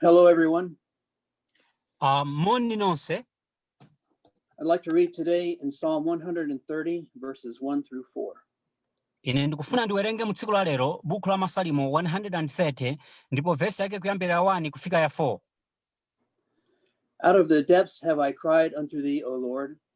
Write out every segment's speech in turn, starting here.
Hello, everyone. Uh, moni nonse. I'd like to read today in Psalm 130, verses 1 through 4. Ine ndikufuna ndiwerenge mu tsiku la lero bukhu la Masalimo 130 ndipo vesi yake kuyambira 1 kufika ya 4. Out of the depths have I cried unto thee, O Lord.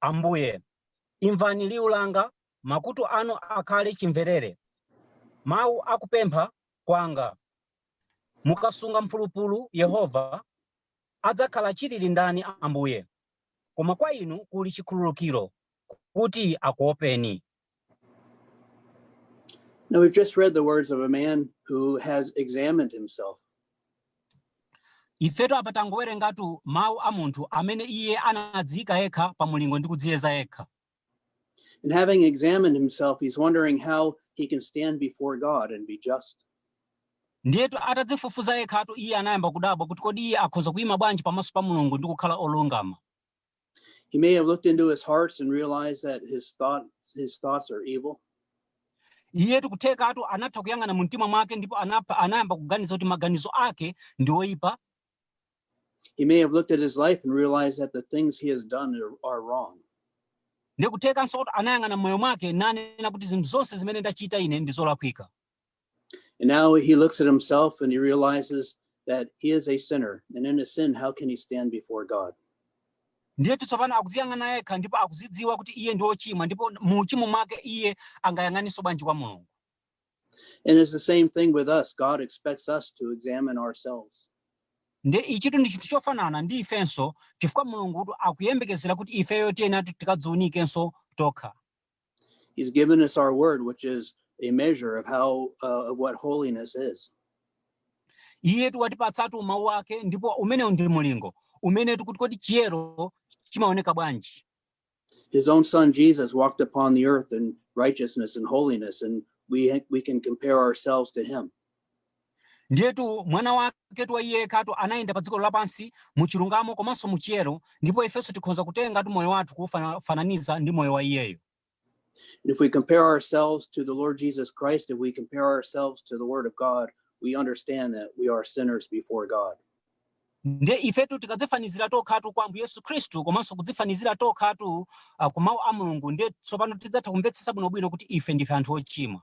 Ambuye, imvani liu langa, makutu anu akhale chimverere mau a kupempha kwanga. Mukasunga mphulupulu, Yehova, adzakhala chilili ndani, Ambuye? Koma kwa Inu kuli chikhululukiro, kuti akuopeni. Now, we've just read the words of a man who has examined himself. ifetu apa tangowerengatu mawu a munthu amene iye anadziyika yekha pa mulingo ndi kudziyeza yekha And having examined himself, he's wondering how he can stand before God and be just. ndiyetu atadzifufuza yekhatu iye anayamba kudabwa kuti kodi iye akhoza kuyima bwanji pamaso pa mulungu ndi kukhala olungama He may have looked into his hearts and realized that his thoughts his thoughts are evil. iyetu kuthekatu anatha kuyang'ana mu mtima mwake ndipo anapa- anayamba kuganiza kuti maganizo ake ndi oyipa He may have looked at his life and realized that the things he has done are, are wrong. ndikuthekanso kuti anayang'ana m'moyo mwake nanena kuti zinthu zonse zimene ndachita ine ndi zolakwika And now he looks at himself and he realizes that he is a sinner. And in his sin, how can he stand before God? ndiyetu tsopano akudziyang'ana yekha ndipo akuzidziwa kuti iye ndi wochimwa ndipo mu uchimo mwake iye angayang'aninso bwanji kwa mulungu And it's the same thing with us. God expects us to examine ourselves. nde ichitu ndi chinthu chofanana ndi ifenso chifukwa mulungutu akuyembekezera kuti ifeyo tiyeneratu tikadziunikenso tokha He's given us our word, which is a measure of how uh, of what holiness is. iyetu watipatsatu mawu ake ndipo umenewu ndi mulingo umenetu kuti kodi chiyero chimaoneka bwanji His own son Jesus walked upon the earth in righteousness and holiness, and we we can compare ourselves to him. Ndiyetu Mwana waketu wa Iye yekhatu anayenda pa dziko lapansi mu chilungamo komanso mu chiyero, ndipo ifenso tikhonza kutengatu moyo wathu kufananiza ndi moyo wa Iyeyo. And if we compare ourselves to the Lord Jesus Christ, if we compare ourselves to the Word of God, we understand that we are sinners before God. nde ifetu tikadzifanizira tokhatu kwa ambuye yesu khristu komanso kudzifanizira tokhatu uh, ku mawu a mulungu nde tsopano tidzatha kumvetsetsa bwinobwino kuti ife ndife anthu ochimwa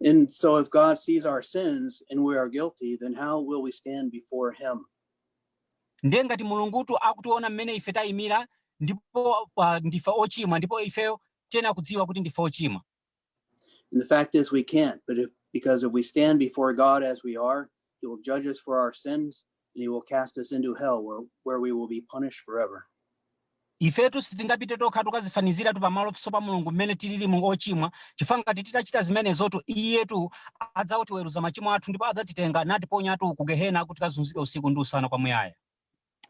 And so, if God sees our sins and we are guilty, then how will we stand before Him? ndiye ngati mulungutu akutiona mmene ife tayimira ndipo ah, ndife ochimwa ndipo ifeyo tiyenera kudziwa kuti ndife ochimwa And the fact is, we can't. But because if we stand before God as we are, He will judge us for our sins, and he will cast us into hell where, where we will be punished forever. ifetu sitingapite tokha tukazifaniziratu pamaso pa mulungu mmene tilili mu ochimwa chifukwa ngati titachita zimenezotu iyetu adzatiweruza machimo athu ndipo adzatitenga natiponyatu ku gehena kuti tikazunzike usiku ndi usana kwamuyaya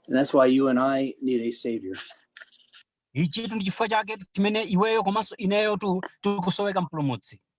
And that's why you and I need a savior. ichitu ndi chifukwa chake chimene iweyo komanso ineyotu tikusoweka mpulumutsi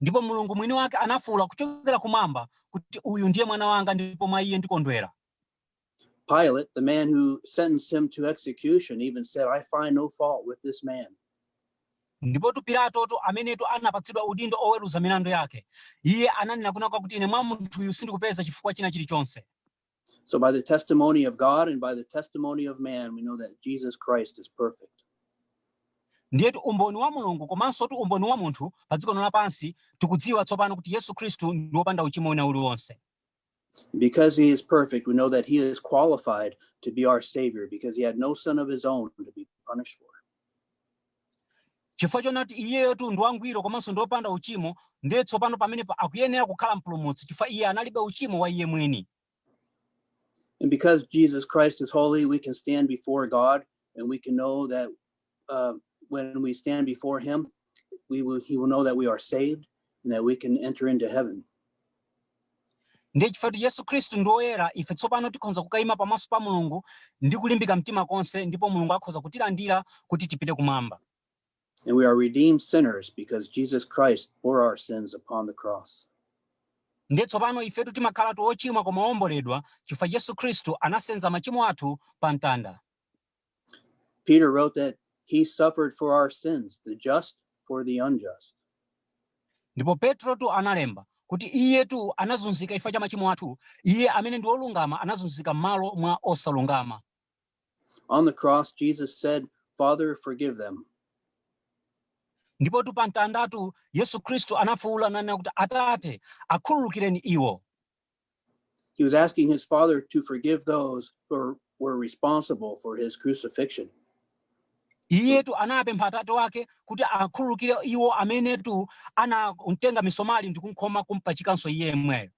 Ndipo Mulungu Mwiniwake anafuula kuchokera Kumwamba, kuti, Uyu ndiye Mwana Wanga, ndipo mwa Iye ndikondwera. Pilate, the man who sentenced him to execution, even said, I find no fault with this man. ndipotu pilatotu amenetu anapatsidwa udindo oweruza milandu yake iye ananena kunena kuti ine mwa munthuyu sindikupeza chifukwa china chilichonse So, by the testimony of God and by the testimony of man, we know that Jesus Christ is perfect. ndiyetu umboni wa mulungu komansotu umboni wa munthu pa dziko lino lapansi tikudziwa tsopano kuti yesu khristu ndi wopanda uchimo wina uliwonse Because he is perfect, we know that he is qualified to be our Savior because he had no son of his own to be punished for. chifukwa choona kuti iyeyotu ndi wangwiro komanso ndi wopanda uchimo ndiye tsopano pamenepo akuyenera kukhala mpulumutsi chifukwa iye analibe uchimo wa iye mwini And because Jesus Christ is holy, we can stand before God and we can know that uh, when we stand before Him, we will, he will know that we are saved and that we can enter into heaven. ndiye chifukwa yesu khristu ndi woyera ife tsopano tikhoza kukayima pamaso pa mulungu ndi kulimbika mtima konse ndipo mulungu akhoza kutilandira kuti tipite kumwamba And we are redeemed sinners because Jesus Christ bore our sins upon the cross. ndiye tsopano ifetu timakhalatu ochimwa koma owomboledwa chifukwa yesu khristu anasenza machimo athu pa mtanda Peter wrote that he suffered for our sins, the just for the unjust. ndipo petrotu analemba kuti iyetu anazunzika chifukwa cha machimo athu iye amene ndi wolungama anazunzika m'malo mwa osalungama On the cross, Jesus said, Father, forgive them. ndipotu pa mtandatu yesu khristu anafuwula nanena kuti atate akhululukireni iwo He was asking his father to forgive those who were responsible for his crucifixion. iyetu anapempha atate wake kuti akhululukire iwo amenetu anatenga misomali ndi kumkhoma kumpachikanso iye yemweyo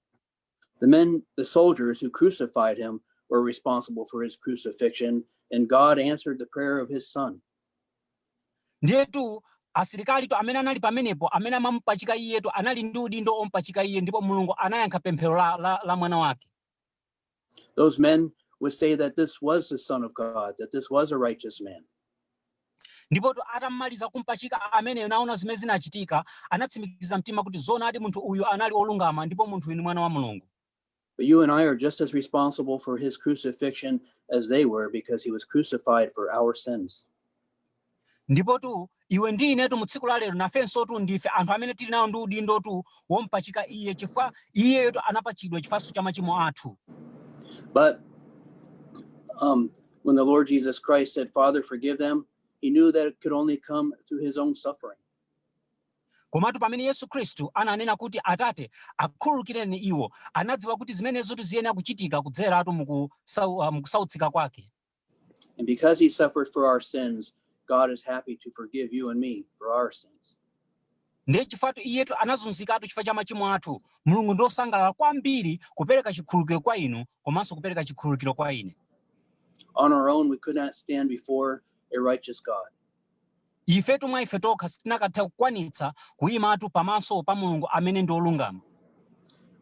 The men, the soldiers who crucified him, were responsible for his crucifixion, and God answered the prayer of his son. Ndiyetu asilikalitu amene anali pamenepo, amene amamupachika iyetu, anali ndi udindo ompachika iye, ndipo Mulungu anayankha pemphero la, la, la mwana wake. Those men would say that this was the Son of God, that this was a righteous man. ndipotu atamaliza kumpachika ameneyo nawona zimene zinachitika anatsimikiza mtima kuti zoonadi munthu uyu anali olungama ndipo munthu uyu ni mwana wa mulungu But you and I are just as responsible for his crucifixion as they were because he was crucified for our sins. ndipotu iwe ndi inetu mu tsiku la lero nafensotu ndife anthu amene tili nawo ndi udindotu wompachika iye chifukwa iyeyotu anapachidwa chifukwanso cha machimo athu But um, when the Lord Jesus Christ said, Father, forgive them, he knew that it could only come through his own suffering. Komatu pamene Yesu Khristu ananena kuti, Atate, akhululukireni iwo, anadziwa kuti zimenezotu ziyenera kuchitika kudzeratu mu kusau- ah, mu kusautsika kwake. And because he suffered for our sins, God is happy to forgive you and me for our sins. Ndiye chifukwatu iyetu anazunzikatu chifukwa cha machimo athu, Mulungu ndi wosangalala kwambiri kupereka chikhululukiro kwa inu komanso kupereka chikhululukiro kwa ine. On our own, we could not stand before a righteous God. Ifetu mwa ife tokha sitinakatha kukwanitsa kuimatu pamaso pa Mulungu amene ndi olungama.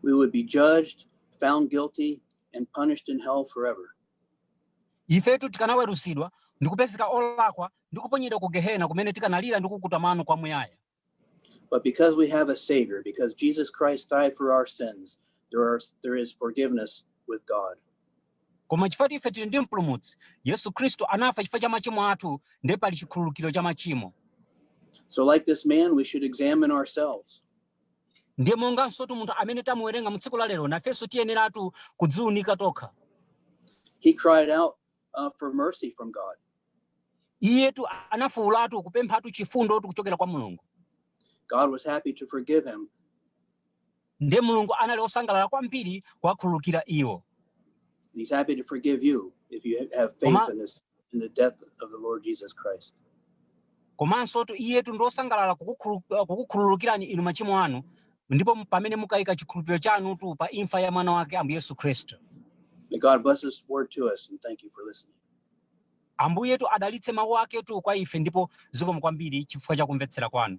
We would be judged, found guilty, and punished in hell forever. Ifetu tikanaweruzidwa ndi kupezeka olakwa ndi kuponyedwa ku Gehena kumene tikanalira ndi kukukuta mano kwamuyaya. But because we have a Savior, because Jesus Christ died for our sins, there, are, there is forgiveness with God. koma chifukwa kuti ife tili ndi mpulumutsi yesu khristu anafa chifukwa cha machimo athu ndiye pali chikhululukiro cha machimo So, like this man, we should examine ourselves. ndiye mongansotu munthu amene tamuwerenga mu tsiku la lero nafenso tiyeneratu kudziunika tokha He cried out uh, for mercy from God. iyetu anafuulatu kupemphatu chifundotu kuchokera kwa mulungu God was happy to forgive him. ndiye mulungu anali osangalala kwambiri kuwakhululukira iwo And he's happy to forgive you if you have faith Oma- in, this, in the death of the Lord Jesus Christ. Komansotu Iyetu ndi wosangalala kukukhulu, kukukhululukirani inu machimo anu, ndipo pamene mukaika chikhulupiriro chanutu pa imfa ya Mwana Wake, Ambuye Yesu Khristu. May God bless this word to us and thank you for listening. Ambuyetu adalitse mawu aketu kwa ife, ndipo zikomo kwambiri chifukwa cha kumvetsera kwanu.